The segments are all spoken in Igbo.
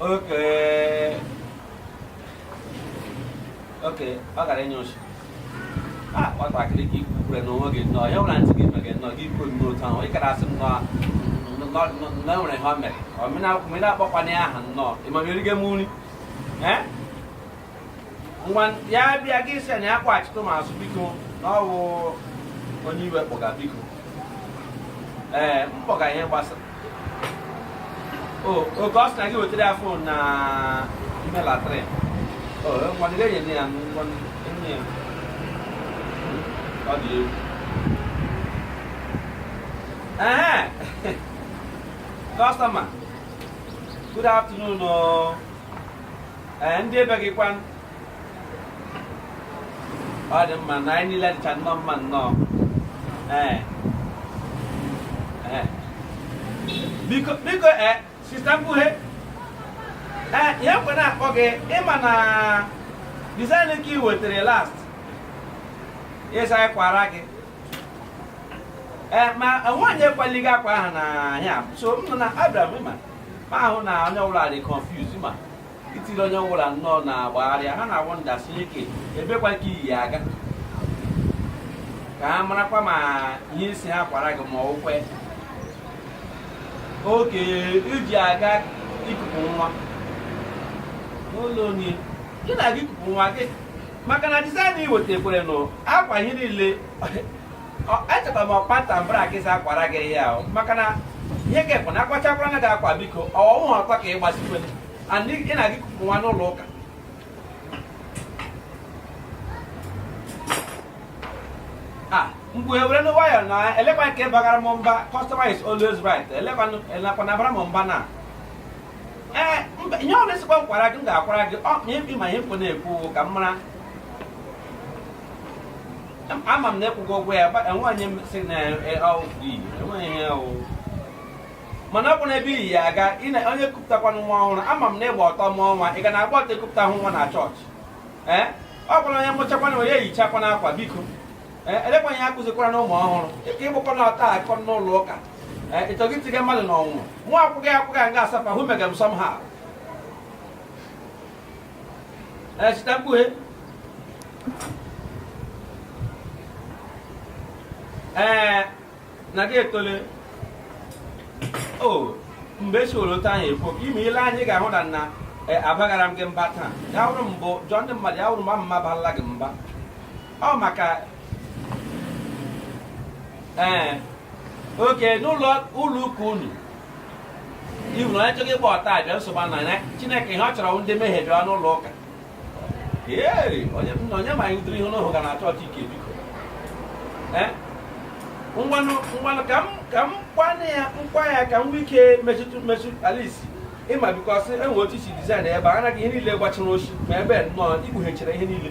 Okay. Okay, ọ gara enye oshi. Ah, nwatakịrị ka ikwu kwure n'onwe gị nnọọ, ya nwere ntị gị mere gị nnọọ, gị kwuo nnọọ otu ahụ, ị gara asị m nnọọ nnọọ nnọọ nwere ihe o mere. Ọ mị na-akpọkwana ya aha nnọọ, ị ma ma erigo m nri? Eh? ngwa ya bịa gị sị ya na ya kpọghachitụ m azụ biko na ọ bụ o nwe ihe m kpọga biko ee m kpọga ihe gbasara o okay ọ sị na gị wetara ya phone na ime latrine o ngwa gị enye ya ngwa enye ya ọ dị egwu ehe customer good afternoon o ee ndị ebe gị kwan ọ dị mma na anyị niile dịcha nnọọ mma nnọọ ee ee biko biko ee sister mkpughe ee ihe m ji na-akpọ gị ị ma na design nke ị wetara last ị sị kwara gị ee ma nwaanyị akwalighị akwa ahụ na ha sị m nnọọ na abịara m ịma ma ahụ na onye ọbụla dị confuse ma i tiri onye ọbụla nnọọ na gbagharịị ha na-awonder sị kee ebekwa ka i yi ya aga ka ha marakwa ma ihe ị sị ha kwara gị ma ọ wụkwa nke i ji aga ikupu nwa n'ụlọ onye ị na-aga ikupu nwa gị maka na design i wetekwere nụ akwa ihe niile echeta m ọkpa ntambara ka ị sị akwara gị ya ahụ maka na ihe kepụ na akwachakwara na gị akwa biko ọ wụhụ akwa ka ị gbazikwe and ị na-aga ikupu nwa n'ụlọ ụka a mgbe were nwayọọ na elekwa nke bagara m mba customer is always right elekwa na bara m mba na ee mba ihe ọ wụ ị sịkwa m kwara gị m ga-akwara gị ọ ma ebi ma ihe m kpụ na-ekwu ka m mara ama m na ị kwụgo ụgwọ ya gba- enwe onye m sị na e- ọ dị iri, enwe ihe ọ wụ mana ọ bụ na ebe i yi ya aga ị na- onye kupụtakwanụ nwa ọhụrụ ama m na ị gba ọtọ mụọ nwa ị ga na-agba ọtọ ekupụta hụ nwa na church ee ọ kwanụ onye mụchakwanụ onye yichakwanụ akwa biko elekwa ihe akụzikwara na ụmụ ọhụrụ ka ị gbakwa na ọtọ aga n'ụlọ ụka ị chọghị itinye mmadụ na ọnwụnwa nwa akwụghị akwụghị nga asapa hụ mega m sọm ha sister mkpughe ee na gị etole o mgbe esi were otu anyị ekwu ime ile anyị ga-ahụ na na abaghara m gị mba taa ya wụrụ mbụ jụọ ndị mmadụ ya wụrụ mbụ m barala gị mba ọ maka ee eh, oke n'ụlọ ụlọ ụka unu iwu na onye chọghị ịgba ọtọ abịa nsogbu na ya chineke ihe ọ chọrọ ndị mmehie bịa n'ụlọ ụka ee onye ma anyị yiri ihe n'ahụ gaa na chọọchị ike biko eh? ngwanụ ngwanụ ka m ka m kwana ya nkwa ya ka m nwee ike metụtụ mmetụ at least ị ma because e nwere otu e si dizaịn ebe a anaghị ihe niile gbachiri ochi ma ebe nnọọ ikpughechara ihe niile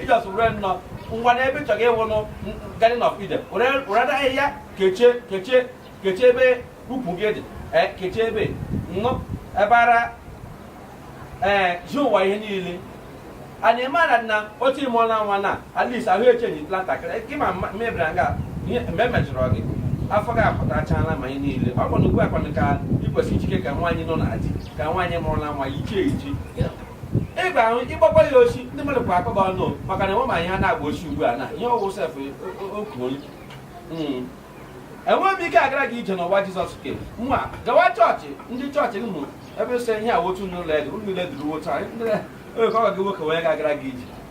ị just were nnọọ ngwa n'ebe ị chọrọ ịwụ nụ Garden of Eden were were nwa ahịhịa kechie kechie kechie ebe ukwu gị dị ee kechie ebe nnụ ebe ara ee ji ụwa ihe niile anyị mara na otu ị mụọla nwa na at least ahụ echenjiela ntakịrị gị ma mebiri nga ihe mgbe emejọrọ gị afọ gị apụtachala ma anyị niile ọ bụ na ugbu a kwanụ ka ị kwesịrị ijike ka nwaanyị nọ na di, ka nwaanyị mụrụla nwa yichie echi ị ga-ahụ ị gbakwa ya ochi ndị mmadụ kwa akọba ọnụ maka na e nwere m ihe ha na-agba ochi ugbu a na ihe ọ wụ sef oku onye Mm. enweghị m ike agara gị ije n'ụwa Jizọs ke nwa gawa chọọchị ndị chọọchị gị mụ ebe sị ihe a wotu n'ụlọ ego ụlọ ile duru wotu anyị ndị oge ọ ga gị nwoke wee ga-agara gị ije